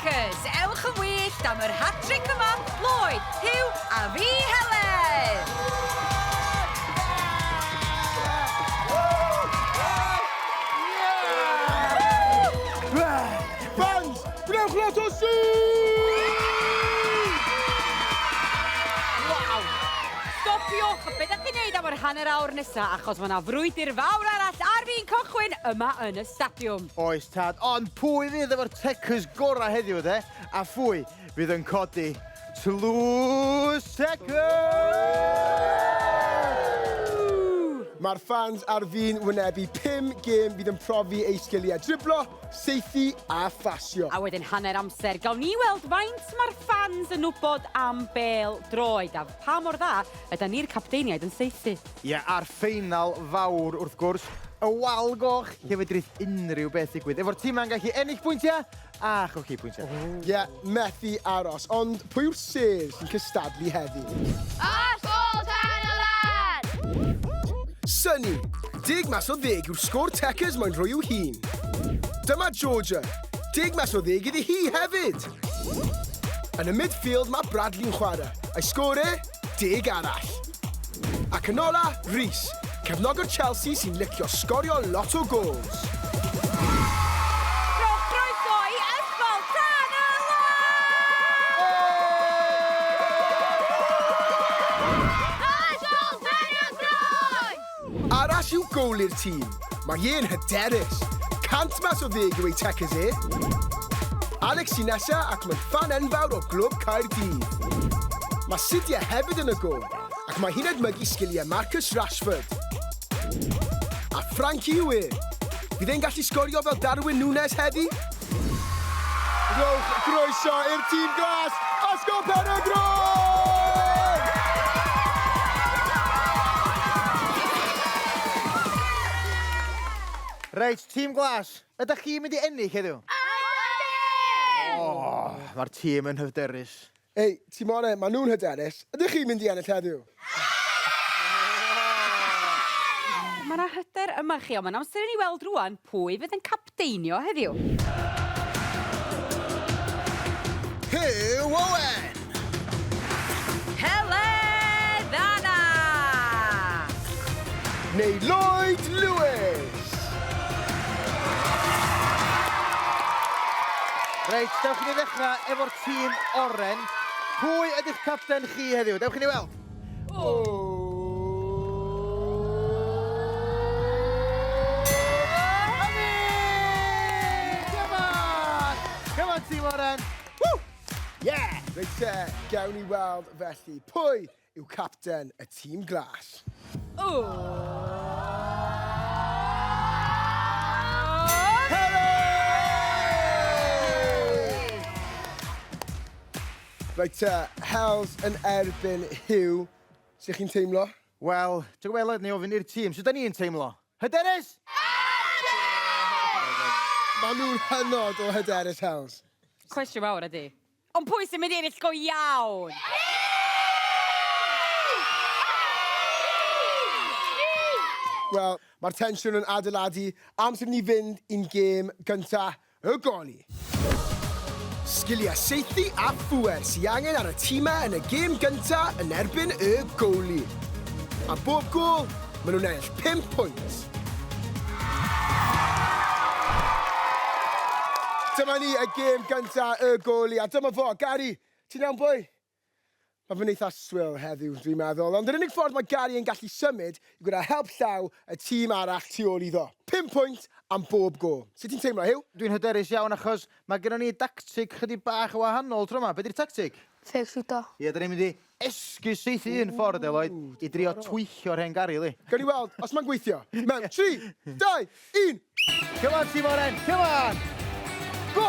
Cys, ewch yn wyllt am yr hat-tric yma, Lloyd, Huw a fi, Helen! hanner awr nesa achos ma' 'na frwydr fawr arall ar fin cychwyn yma yn y stadiwm. Oes tad, ond pwy fydd efo'r tecws gorau heddiw de? A phwy fydd yn codi tlws tecws? Mae'r ffans ar fin wynebu 5 gêm fydd yn profi eu sgiliau driblo, seithi a phasio. A wedyn hanner amser, gawn ni weld faint mae'r ffans yn wybod am bêl droed a pha mor dda yda ni'r capteiniaid yn saethu. Ie, a'r ffeinal fawr, wrth gwrs, y wal goch, lle fedrith unrhyw beth ddigwydd. Efo'r timau'n gallu ennill pwyntiau a cholli pwyntiau. Ie, methu aros. Ond pwy yw'r sêr sy'n cystadlu heddi? Ysgol Pen-y-len! Sunny, deg mas o ddeg yw'r sgôr Tecers moyn rhoi i'w hun. Dyma Georgia, deg mas o ddeg iddi hi hefyd! Yn y midfield mae Bradley'n chwarae, a'i sgôr e? deg arall. Ac yn ola, Rhys, cefnogwr Chelsea sy'n licio sgorio lot o gols. Arall i'w gowl i'r tîm. Mae e'n hyderus. Cant mas o ddeg yw ei tecys e. Alex sy'n nesa ac mae'n ffan enfawr o glwb Caerdydd. Mae Sidya hefyd yn y gol ac mae hi'n edmygu sgiliau Marcus Rashford. A Frankie yw e. Bydd e'n gallu sgorio fel Darwin Nunez heddi? Rhowch groeso i'r tîm glas, Ysgol Pen-y-groen! Reit, tîm glas, ydych chi'n mynd i ennill heddiw? Ydyn! O, mae'r tîm yn hyfderus. Hei, Timore, maen nhw'n hyderus. Ydych chi'n mynd i ennill heddiw? Mae 'na hyder yma chi, ond mae'n amser i ni weld rŵan pwy fydd yn capteinio heddiw. Huw Owen! Helen Anna! Neu Lloyd Lewis! Reit, dewch i ni ddechrau efo'r... tîm oren. Pwy ydych capten chi heddiw? Dewch i ni weld. Oh. Simon Oren. Woo! Yeah! Reit te, gawn ni weld felly. Pwy yw capten y tîm glas. Reit te, Hels yn erbyn Huw. Sut chi'n teimlo? Wel, ti'n gwybod Eled, ni ofyn i'r tîm, sut da ni'n teimlo? Hyderus! Maen nhw'n hynod o hyderus, Hels. Cwestiwn fawr ydy, Ond pwy sy'n mynd i ennill go iawn? Wel, mae'r tensiwn yn adeiladu, amser i ni fynd i'n gêm gynta, y goli. Sgiliau saethu a phŵer sy angen ar y timau yn y gêm gynta yn erbyn y goli. Am bob gôl, maen nhw'n ennill pump pwynt. Dyma ni, y gêm gynta, y goli, a dyma fo, Gary! Ti'n iawn boi? Mae fe'n eitha swil heddiw, dwi'n meddwl, ond yr unig ffordd mae Gary yn gallu symud yw gyda help llaw y tîm arall tu ôl iddo. Pum pwynt am bob gôl. Sut ti'n teimlo, Huw? Dwi'n hyderus iawn achos mae gennon ni dactig chydig bach yn wahanol tro 'ma. Be 'di'r tactig? Ffêc-shwto. Ie, 'dan ni'n mynd i Esgus syth i un ffordd Eloy i drio twyllo'r hen garyl i. Gawn ni weld os mae'n gweithio. Mewn 3, 2, 1! Come on Tîm Oren, come on! Go!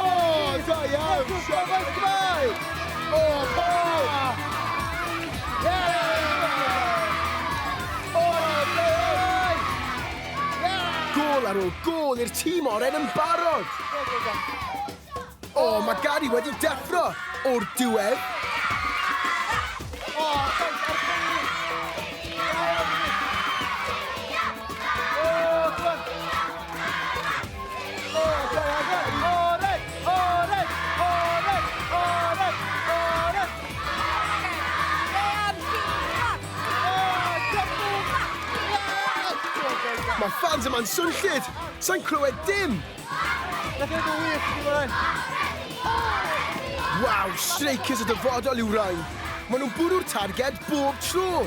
Da iawn! Siarad Cymraeg! O, Paul! Gôl ar ôl gôl i'r tîm oren yn barod! O, mae Gary wedi deffro o'r diwedd. Mae fans yma'n swnllyd! Sa'n clywed dim! Waw, streicers y dyfodol yw rain. Maen nhw'n bwrw'r targed bob tro.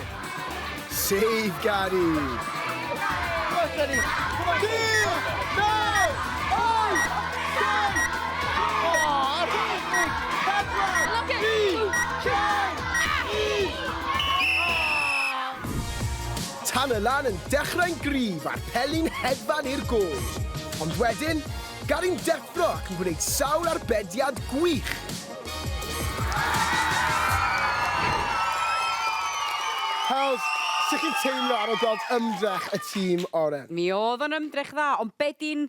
Save, Gary! Look Tan y lan yn dechrau'n gryf a'r peli'n hedfan i'r gôl. Ond wedyn, Gary'n deffro ac yn gwneud sawl arbediad gwych. Hawdd, sut chi'n teimlo ar ol gweld ymdrech y tîm, Oren? Mi o'dd o'n ymdrech dda, ond be' 'di'n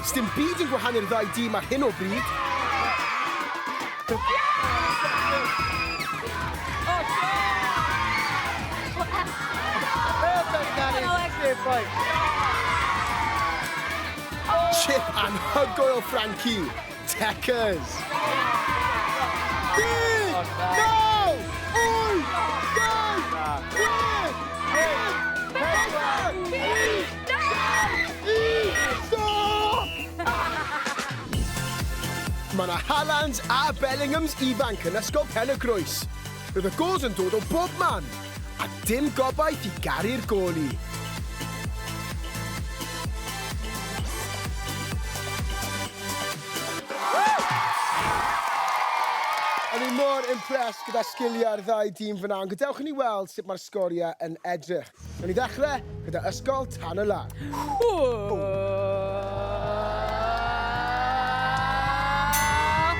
Sdim byd yn gwahanu'r ddau dîm ar hyn o bryd. Chip anhygoel o Frankie! Techers! Mae yna Haalands a Bellinghams ifanc yn Ysgol Pen-y-groes. Roedd y gols yn dod o bob man, a dim gobaith i garu'r goli. O'n i mor impressed gyda sgiliau'r ddau dîm fyna, ond gadewch i ni weld sut mae'r sgoriau yn edrych. Newn ni ddechrau gyda Ysgol Tan y Lan.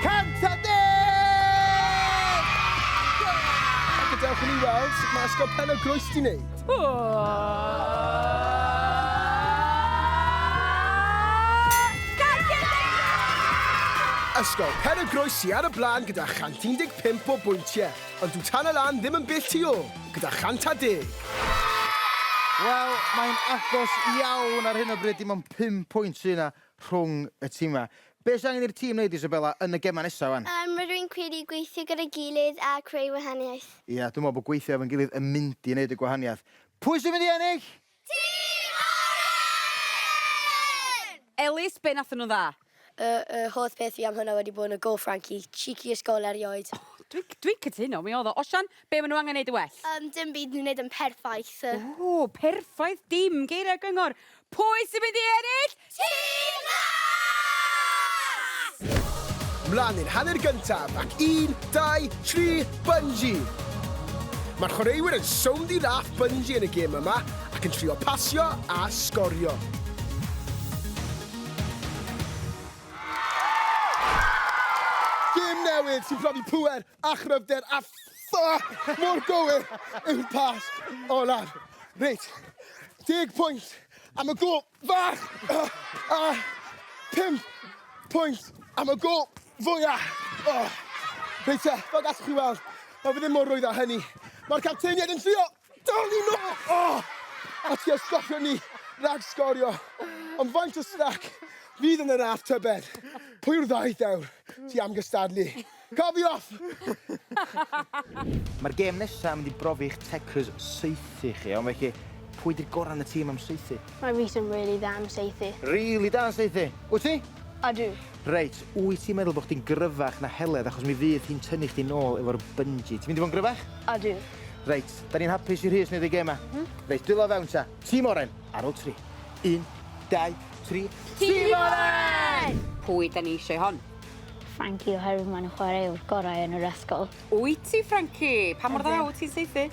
Cant a deg! A gadewch i ni weld sut mae Ysgol Pen y Groes di wneud. Ysgol Pen y Groes sy ar y blaen gyda 115 o bwyntiau, ond dyw Tan y Lan ddim yn bell tu ôl. gyda chant a deg. Wel, mae'n agos iawn ar hyn o bryd, dim ond pum pwynt sy'n yna rhwng y timau. Be sy'n angen i'r tîm wneud, Isabella, yn y gemau nesaf wan? Um, rwy'n credu gweithio gyda'i gilydd a creu wahaniaeth. Ia, dwi'n meddwl bod gweithio efo'n gilydd yn mynd i wneud y gwahaniaeth. Pwy sy'n mynd i ennill? Tîm Oren! Elis, be nathon nhw'n dda? Y y holl peth fi am hwnna wedi bod yn y go Frankie, cheeky y sgol erioed. O dwi dwi'n cytuno mi odd o. Osian, be ma nhw angen neud yn well? Yym dim byd ni'n neud yn perffaith yy. Ww perffaith dim geiriau gyngor! Pwy sy'n mynd i ennill? Tîm Las! Mlaen i'r hanner gyntaf ac un, dau, tri, Bunjee! Mae'r chwaraewyr yn sownd i laff Bunjee yn y gêm yma ac yn trio pasio a sgorio. newydd sy'n profi pŵer a chryfder a ffo mor gywir yw'r pas olaf. Reit, deg pwynt am y gol. Fach! A pump pwynt am y gol fwya! Reit te, fel gallwch chi weld, mae fe ddim mor rwydd â hynny. Mae'r capteiniaid yn trio dal ni nôl! A tua stopio ni rhag sgorio. Ond faint o strac fydd yn y raff tybed? Pwy yw'r ddau ddewr tu am gystadlu? Cofiwch! Mae'r gêm nesaf yn mynd i brofi eich tecrys saethu chi, ond felly, pwy di'r gorau yn y tîm am saethu? Mae Rhys yn rili dda am saethu. Rili da yn saethu! Wyt ti? Ydw. Reit, wyt ti'n meddwl bod chdi'n gryfach na Heledd achos mi fydd hi'n tynnu chdi nôl efo'r bungee. Ti'n mynd i fod yn gryfach? Ydw. Reit, da ni'n hapus i Rhys wneud ei gêm yma. Mhm. Reit, dwylo fewn ta. Tîm oren, ar ôl tri. Un, dau, tri. Tîm Oren! Pwy da ni eisiau hon? Frankie oherwydd maen nhw'n chwarae yw'r gorau yn yr ysgol. Wyt ti, Frankie? Pa mor dda wyt ti'n saethu?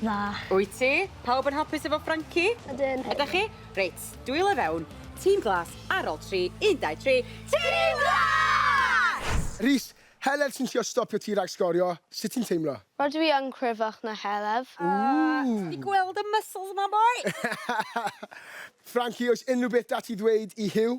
Dda. Wyt ti? Pawb yn hapus efo Frankie? Ydyn. Ydych chi? Reit, dwylo i fewn. Tîm glas ar ol tri, un, dau, tri. Tîm glas! Rhys, Heledd sy'n trio stopio ti rhag sgorio, sut ti'n teimlo? Rydw i yn cryfach na Heledd. Ti 'di gweld y muscles 'ma boi? Frankie, oes unrhyw beth 'da ti ddweud i Huw?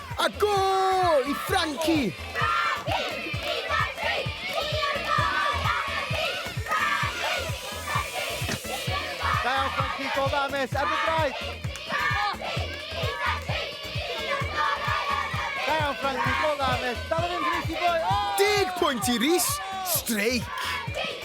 A go i Franci! Da iawn Franci, go dda mêt, ar dy draed! Da iawn Franci, go dda mêt, dal o fynd Rhys i boi! Deg pwynt i Rhys, streic!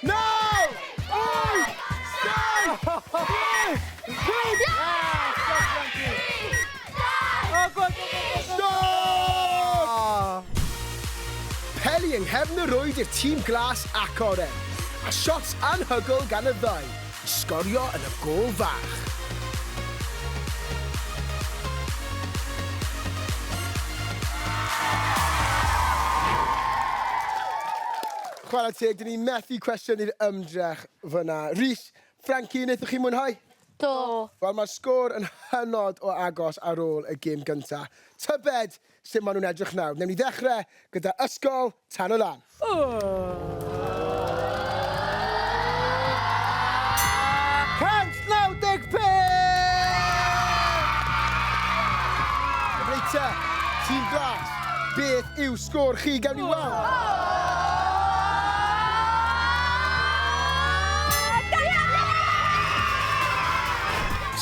Naw! Wyth! Saith! Chwech! Pump! Stop! Peli yng nghefn y rwyd i'r tîm glas ac oren, a shots anhygoel gan y ddau i sgorio yn y gôl fach. Chwarae teg, dyn ni methu cwestiynu'r ymdrech fyna. Rhys, Frankie, wnaethoch chi mwynhau? Do. Wel, mae'r sgôr yn hynod o agos ar ôl y gêm gynta. Tybed sut maen nhw'n edrych nawr? Newn ni ddechrau gyda Ysgol Tan y Lan. Cant naw deg pump! Cyfreithiau, tîm glas. Beth yw sgôr chi? Gawn ni weld!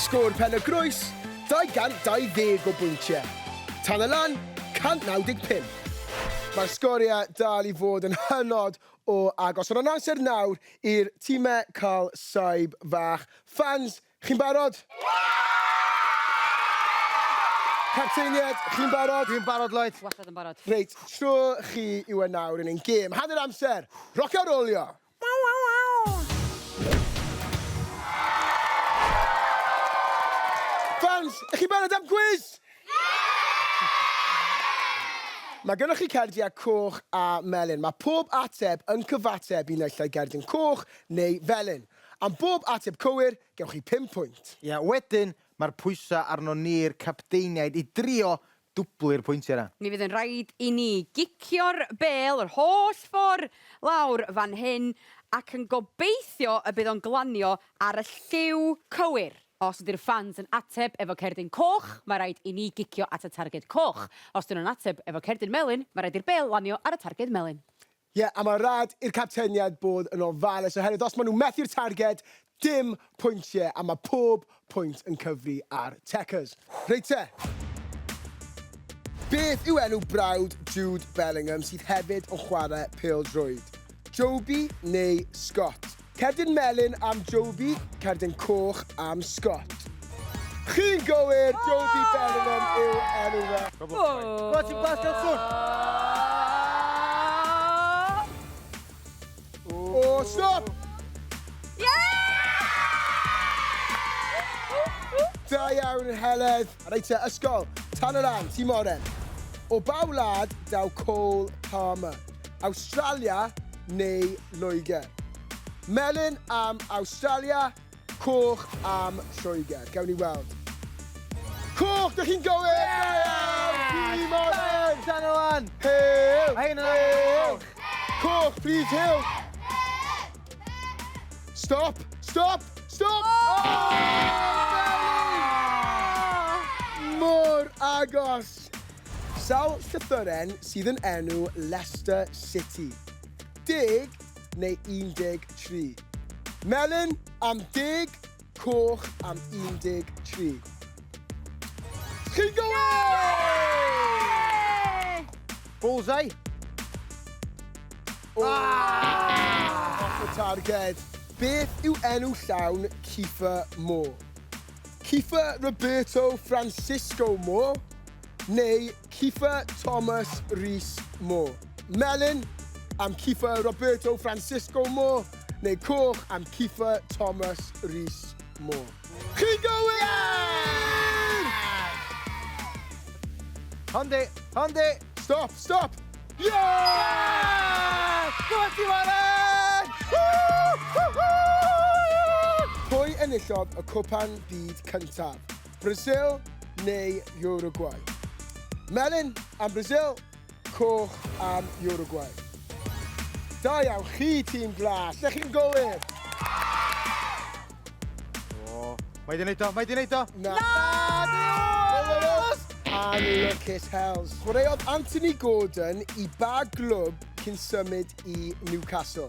Sgôr Pen y Groes, 220 o bwyntiau. Tan y Lan, 195. Mae'r sgoriau dal i fod yn hynod o agos, ond yn amser nawr i'r timau cael saib fach. Fans, Chi'n barod? Capteinied, chi'n barod? Dwi'n barod, Lloyd. Wastad yn barod. Reit, tro chi yw e nawr yn ein gêm hanner amser. Roc a rowlio! Fans, ych chi'n barod am gwis? Mae gennych chi cardiau coch a melyn. Mae pob ateb yn cyfateb i naill ai gerdyn coch neu felyn. Am bob ateb cywir, gewch chi pum pwynt. Ie, wedyn, mae'r pwysau arnon ni'r capteiniaid i drio dwblu'r pwyntiau 'na. Mi fydd yn rhaid i ni gicio'r bêl yr holl ffor' lawr fan hyn ac yn gobeithio y bydd o'n glanio ar y lliw cywir. Os ydy'r ffans yn ateb efo cerdyn coch, mae rhaid i ni gicio at y targed coch. Os 'dyn nhw'n ateb efo cerdyn melyn, mae rhaid i'r bêl lanio ar y targed melyn. Ie, a mae rhaid i'r capteniaid bod yn ofalus oherwydd os maen nhw'n methu'r targed, dim pwyntiau a mae pob pwynt yn cyfri ar Checkers. Reit te! Beth yw enw brawd Jude Bellingham sydd hefyd yn chwarae pêl-droed? Joby neu Scott? Cerdyn melyn am Joby, cerdyn coch am Scott. Chi'n gywir, Joby Bellingham yw enw fe. Gweld ti'n glas gael swn! O, stop! Da iawn, Heledd. Reit te, ysgol, tan yr Ain, Tŷ Moren. O ba wlad daw Cole Palmer? Awstralia neu Loegr? Melyn am Awstralia, coch am Lloegr. Gawn ni weld. Coch, dych chi'n gywir! Tŷ Moren! Tan yr Ain! Hew! Mae hyn yn coch! Coch, plîs, hew! Stop! Stop! Stop! Oh! oh! Mor agos! Sawl llythyren sydd yn enw Leicester City? Deg neu 13? Melin am deg Coch am 13. Chi'n gywir! Bullseye. Oh. Ah! Off the target. Beth yw enw llawn Kieffer Moore? Kieffer Roberto Francisco Moore neu Kiefer Thomas Rees Moore, melyn, am Kiefer Roberto Francisco Moore, neu coch am Kiefer Thomas Rees Moore. Chi'n gywir! Honde, honde! Stop, stop! Yeah! Gwybod ti Warren! Pwy enillodd y cwpan byd cyntaf? Brasil neu Uruguay? Melyn am Brasil, coch am Uruguay. Da iawn chi, tîm glas, lle chi'n gywir? Mae di wneud o, mae di wneud o! Na! Lawrus! Anlwcus Hells. Chwaraeodd Anthony Gordon i ba glwb cyn symud i Newcastle?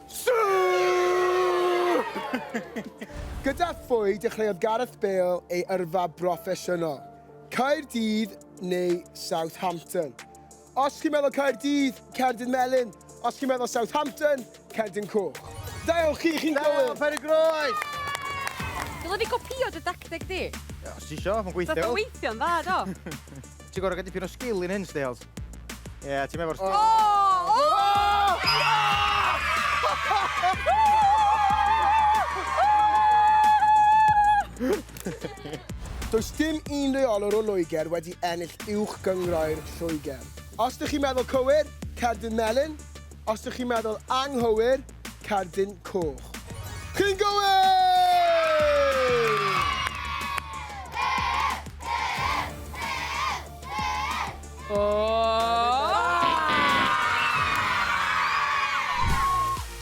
Gyda phwy dechreuodd Gareth Bale ei yrfa broffesiynol? Caerdydd neu Southampton? Os chi'n meddwl Caerdydd, cerdyn melyn. Os chi'n meddwl Southampton, cerdyn coch. Da iawn chi, chi'n gywir! Helo, Penygroes! Groes! Dyla fi gopïo dy dacteg di? Os ti isio, mae'n gweithio. Dod o weithio'n dda, do. Ti'n gorau gael dipyn o sgil i'n hyn, Stales. Ie, yeah, ti'n meddwl... Oh! Oh! Does dim un reolwr o Loegr wedi ennill uwch gyngroer Lloegr. Os ydych chi'n meddwl cywir, cerdyn melyn, Os dych chi'n meddwl anghywir, cerdyn coch. Chi'n gywir!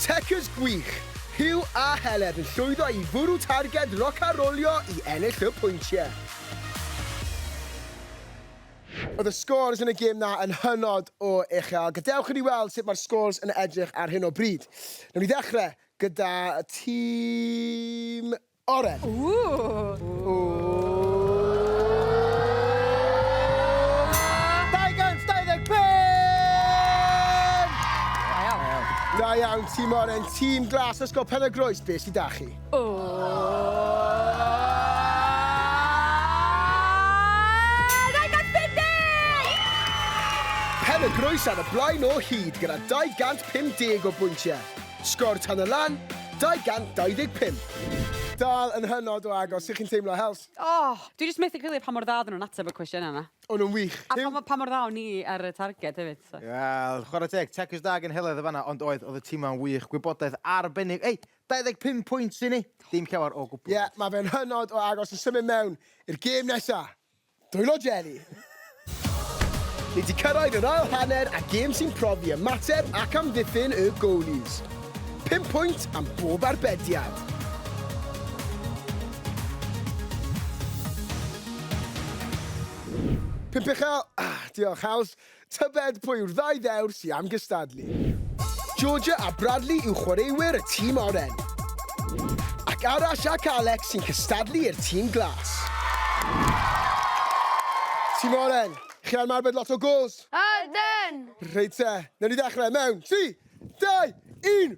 Techers gwych! Huw a Heledd yn llwyddo i fwrw targed roc-a-rolio i ennill y pwyntiau. Oedd y scores yn y gêm 'na yn hynod o uchel. Gadewch i ni weld sut mae'r scores yn edrych ar hyn o bryd. Newn ni ddechrau gyda tîm Oren. Da iawn tîm Oren. Tîm Glas Ysgol Penygroes, be' sy 'da chi? Pen-y-groes ar y blaen o hyd gyda 250 o bwyntiau. Sgor tan y lan, 225. Dal yn hynod o agos, sut chi'n teimlo, Hels? Oh, dwi jyst methu credu pa mor dda oedden nhw'n ateb y cwestiynau yna. O'n nhw'n wych. A pa, pa mor dda o'n ni ar y targed hefyd. So. Wel, chwarae teg, Checkers da gynhelaeth y fanna, ond oedd, oedd y tîmau'n wych, gwybodaeth arbennig. Ei, 25 pwynt i ni, dim llawer o gwbl. Ie, mae fe'n hynod o agos i symud mewn i'r gêm nesa. Dwylo Jelly! Ni 'di cyrraedd yr ail hanner a gêm sy'n profi ymateb ac amddiffyn y goalies. Pum pwynt am bob arbediad. Pump uchel, ah, diolch Hawdd. Tybed pwy yw'r ddau ddewr sy am gystadlu? Georgia a Bradley yw chwaraewyr y tîm oren. Ac Arash ac Alex sy'n cystadlu i'r tîm glas. Tîm oren, chi ar marbed lot o gols? Ydyn! Reit te, newn ni ddechrau mewn 3, 2, 1!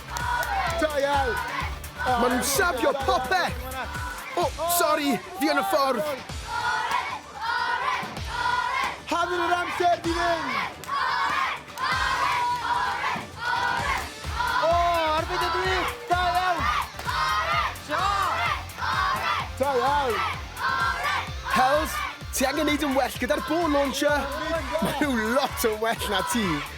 Da iawn! Maen nhw'n safio popeth! O, sori, fi yn y ffordd! Hanner yr amser di fynd! O, arbed y dwi! Da iawn! Da iawn! Hels, ti angen neud yn well gyda'r ball launcher! Maen nhw lot yn well na ti!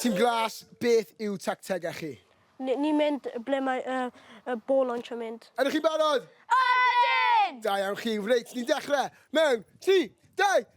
Tîm Glas, beth yw tactegau chi? Ni, ni'n mynd ble mae y, y ball launch yn mynd. Ydych chi'n barod? Ydyn! Da iawn chi, reit, ni'n dechrau mewn 3, 2,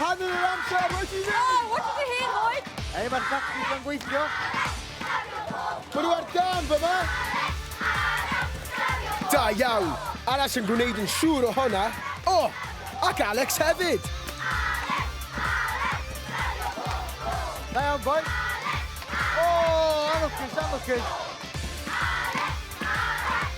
Hanner yr amser wedi mynd! Oh, what did you hear, Lloyd? Ei, mae'r tactics yn gweithio. Mae nhw ar dan fyma. Da iawn. Alas yn gwneud yn siŵr o honna. O, oh, ac Alex hefyd. Da iawn, boi. O, oh, anwcus, anwcus.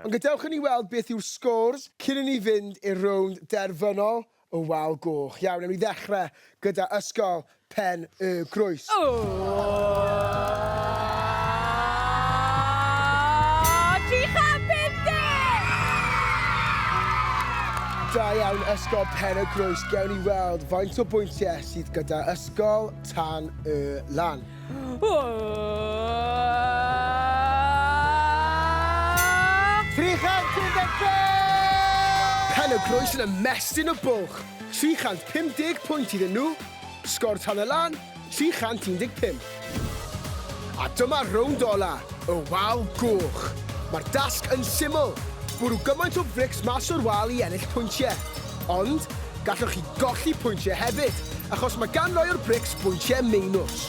Ond gadewch i ni weld beth yw'r scores cyn i ni fynd i'r rownd derfynol y Wal Goch. Iawn, ewn ni ddechrau gyda Ysgol Pen y Groes. O! Tri chant pum deg! Da iawn Ysgol Pen y Groes, gewn ni weld faint o bwyntiau sydd gyda Ysgol Tan y Lan. Pen y groes yn ymestyn y bwlch, 350 pwynt iddyn nhw, sgor tan y lan, 315. A dyma'r rownd ola, y wal goch. Mae'r dasg yn syml, bwrw gymaint o frics mas o'r wal i ennill pwyntiau. Ond, Gallwch chi golli pwyntiau hefyd, achos mae gan rai o'r brics bwyntiau meinws.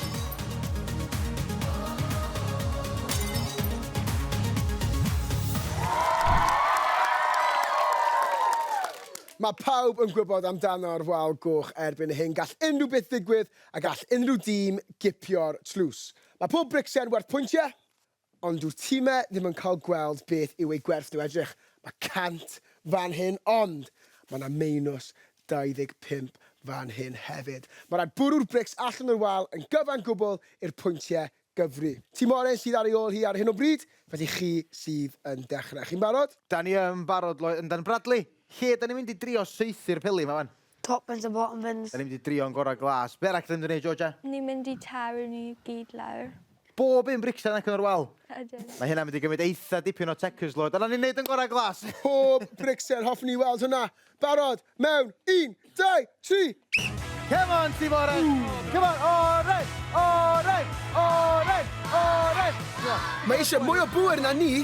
Mae pawb yn gwybod amdano'r wal goch erbyn hyn, gall unrhyw beth ddigwydd a gall unrhyw dîm gipio'r tlws. Mae pob bricsen werth pwyntiau, Ond dyw'r timau ddim yn cael gweld beth yw eu gwerth nhw, edrych, mae 100 fan hyn ond mae 'na meinws 25 fan hyn hefyd. Mae rhaid bwrw'r brics allan o'r wal yn gyfan gwbl i'r pwyntiau gyfri. Tîm oren sydd ar ei ôl hi ar hyn o bryd, felly chi sydd yn dechrau. Chi'n barod? Dan ni yn barod, Loy, yndan Bradley? Lle dan ni'n mynd i drio saethu'r peli 'ma 'wan? Top bins a bottom bins. Da ni mynd i drio'n gorau glas. Be arall da ni mynd i wneud, Georgia? Ni'n mynd i taru ni gyd lawr. Bob un bricsen ac yn yr wal? Ydyn. Mae hynna'n mynd i gymryd eitha dipyn o tecus, Lloyd. A da ni'n wneud yn gorau glas! Pob bricsen, hoffwn ni weld hwnna! Barod, mewn, un, dau, tri! Come on, Tîm Oren! Come on, Oren! Oren! Oren! Oren! Mae eisiau mwy o bŵer na ni!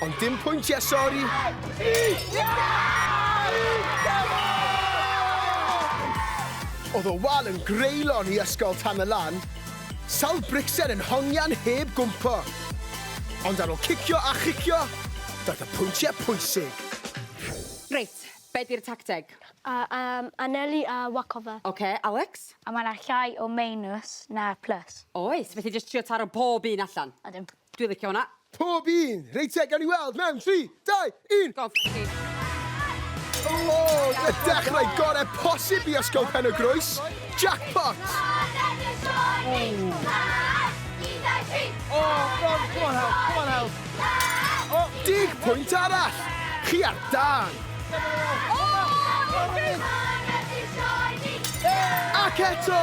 Ond dim pwyntiau, sori! Oedd y wal yn greulon i ysgol Tam y Lan. Sawl bricsen yn hongian heb gwmpo. Ond ar ôl cicio a chicio, daeth y pwyntiau pwysig. Reit, be di'r tacteg? A, um, anelu a waco fe. Ok, Alex? A mae yna llai o meinws na'r plus. Oes, felly jyst trio taro pob un allan. Ydym. Dwi licio hwnna. Pob un! Reit te, gawn ni weld mewn 3, 2, 1! Go on Frankie. O! Oh, y dechrau gore posib i Ysgol Pen y Groes. Jackpot! Dig pwynt arall! Chi ar dan! Ac eto!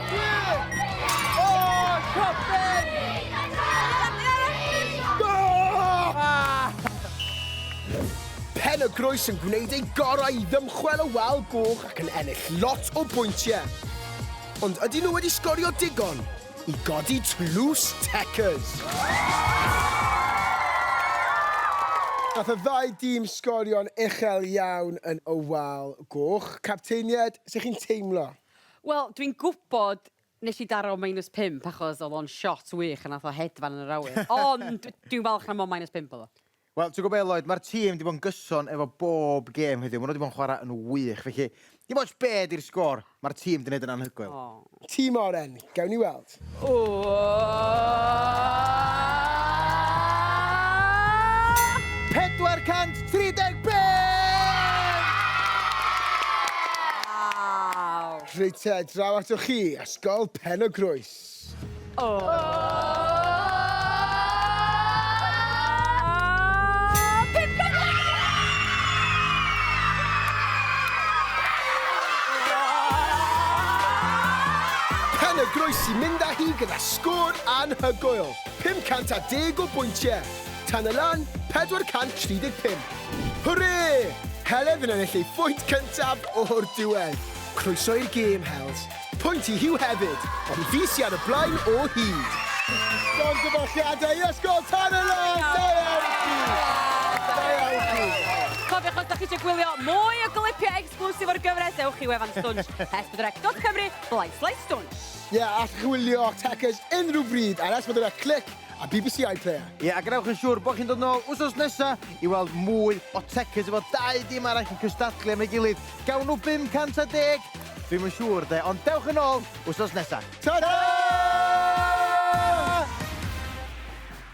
Pen y Groes yn gwneud ei gorau i ddymchwel y wal goch ac yn ennill lot o bwyntiau. Ond ydyn nhw wedi sgorio digon i godi tlws Techers? Nath y ddau dîm sgorio'n uchel iawn yn y wal goch. Capteinied, sut chi'n teimlo? Wel, dwi'n gwybod nes i daro minus 5 achos oedd o'n shot wych a nath o hedfan yn yr awyr. Ond dwi'n falch na mond minus 5 oedd o. Wel, ti'n gwybod be Lloyd, mae'r tîm wedi bod yn gyson efo bob gêm heddiw. Maen nhw wedi bod yn chwarae yn wych. Felly, dim ots be di'r sgôr, mae'r tîm wedi gwneud yn anhygoel. Aww. Tîm oren, gawn ni weld. Fflint. Reit te, draw atoch chi, Ysgol Pen-y-groes. Pen y Groes i mynd â hi gyda sgôr anhygoel, 510 o bwyntiau, tan y lan, 435. Hwrê! Heledd yn ennill ei phwynt cyntaf o'r diwedd. Croeso i'r gêm, Hels. Pwynt i Huw hefyd, ond fi sy ar y blaen o hyd. Llongyfarchiadau i Ysgol Tan y Lan! Da iawn chi! Da iawn chi! Cofiwch os da chi eisiau gwylio mwy o glipiau Exclusive o'r gyfres, ewch i wefan Stwnsh, s4c.cymru, blaen slaes Stwnsh. Ie, yeah, allwch chi wylio Techers unrhyw bryd ar S4C Click a BBC iPlayer. Ie, yeah, a gwnewch yn siŵr bod chi'n dod nôl wsos nesa i weld mwy o Techers efo dau dim arall yn cystadlu am ei gilydd. Gawn nhw 510? Dwi'm yn siŵr de, ond dewch yn ôl wsos nesa. Ta-da!